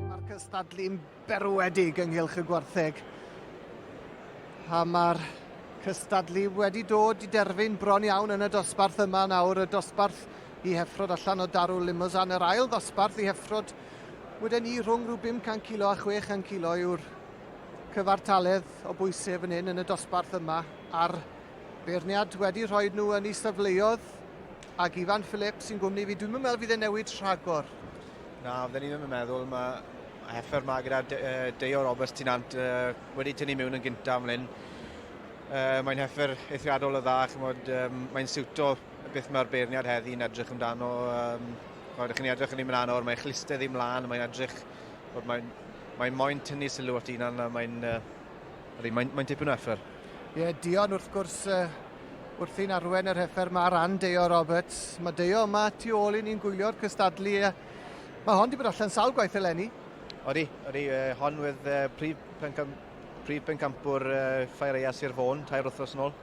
Mae'r cystadlu'n berwedig ynghylch y gwartheg. A mae'r cystadlu wedi dod i derfyn bron iawn yn y dosbarth yma nawr, y dosbarth i heffrod allan o Darul Limousin, yr ail ddosbarth i heffrod weden ni rhwng rhyw 500 kilo a 600 kilo yw'r cyfartaledd o bwysau fan hyn yn y dosbarth yma a'r beirniad wedi rhoi nhw yn ei safleodd Ag Ifan Phillips sy'n gwmni fi, dwi'm yn meddwl fydd e'n newid rhagor. Na, fydden ni ddim yn meddwl. Mae effer ma gyda De, uh, Deo Roberts ti'n ant uh, wedi tynnu mewn yn gyntaf ymlaen. Uh, mae'n heffer eithriadol o dda, chymod, um, mae'n siwto beth mae'r beirniad heddi yn edrych amdano. Um, chymod, chi'n edrych yn ei mlaen o'r, mae'n chliste ddim mlaen, mae'n edrych, mae'n mae moyn tynnu sylw at un a mae'n uh, mae, mae tipyn o effer. Ie, yeah, Dion wrth gwrs uh, Wrthi'n arwen yr heffer mae Ran Deo Roberts. Mae Deo yma tu ôl i ni'n gwylio'r cystadlu. Mae hon wedi bod allan sawl gwaith eleni. Odi, odi. Uh, hon wedd uh, prif, pencam, prif pencampwr uh, Ffaereia Sir Fôn, tair wythnos yn ôl.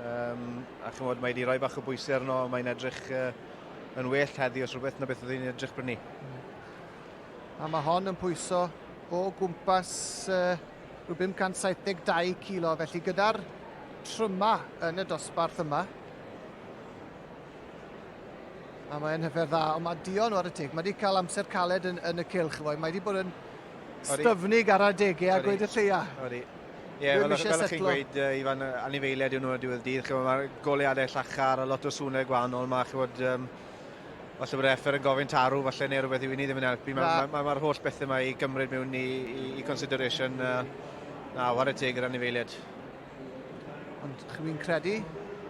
Um, a chymod, mae wedi rhoi bach o bwysau arno, mae'n edrych uh, yn well heddi os rhywbeth na beth oedd hi'n edrych brynu. A mae hon yn pwyso o gwmpas uh, Rhyw 572 kilo felly gyda'r tryma yn y dosbarth yma. A mae'n hyfer dda, ond mae Dion nhw ar y teg. Mae wedi cael amser caled yn, yn y cilch, efo. Mae wedi bod yn styfnig ar adegau a gweud y lleia. Ori. Ie, yeah, fel, fel chi'n gweud, uh, Ifan, anifeiliaid yw nhw y diwedd dydd. Mae'r goleadau llachar a lot o swnau gwahanol. Mae, chywod, um, Falle bod Effer yn gofyn tarw, falle, neu rhywbeth yw i ni ddim yn helpu. Mae'r ma, ma, ma, ma holl bethau mae i gymryd mewn i, i, i consideration. Uh, na, war y teg yr anifeiliad. Ond chi'n credu?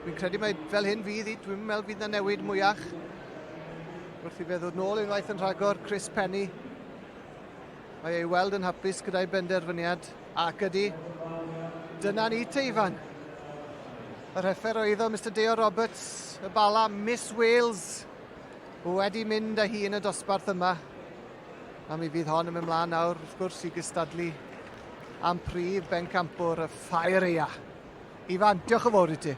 Fi'n credu mae fel hyn fydd i, dwi'n meddwl fydd na newid mwyach. Wrth i fe ddod nôl unwaith yn rhagor, Chris Penny. Mae ei weld yn hapus gyda'i benderfyniad ac ydy. Dyna ni te, Ifan. Y rheffer oedd o, Mister Deo Roberts, y Bala, Miss Wales, wedi mynd â hi yn y dosbarth yma. A mi fydd hon yn mynd mlaen nawr, wrth gwrs, i gystadlu am prif bencampwr y ffair eia. Ifan, diolch yn fawr i ti.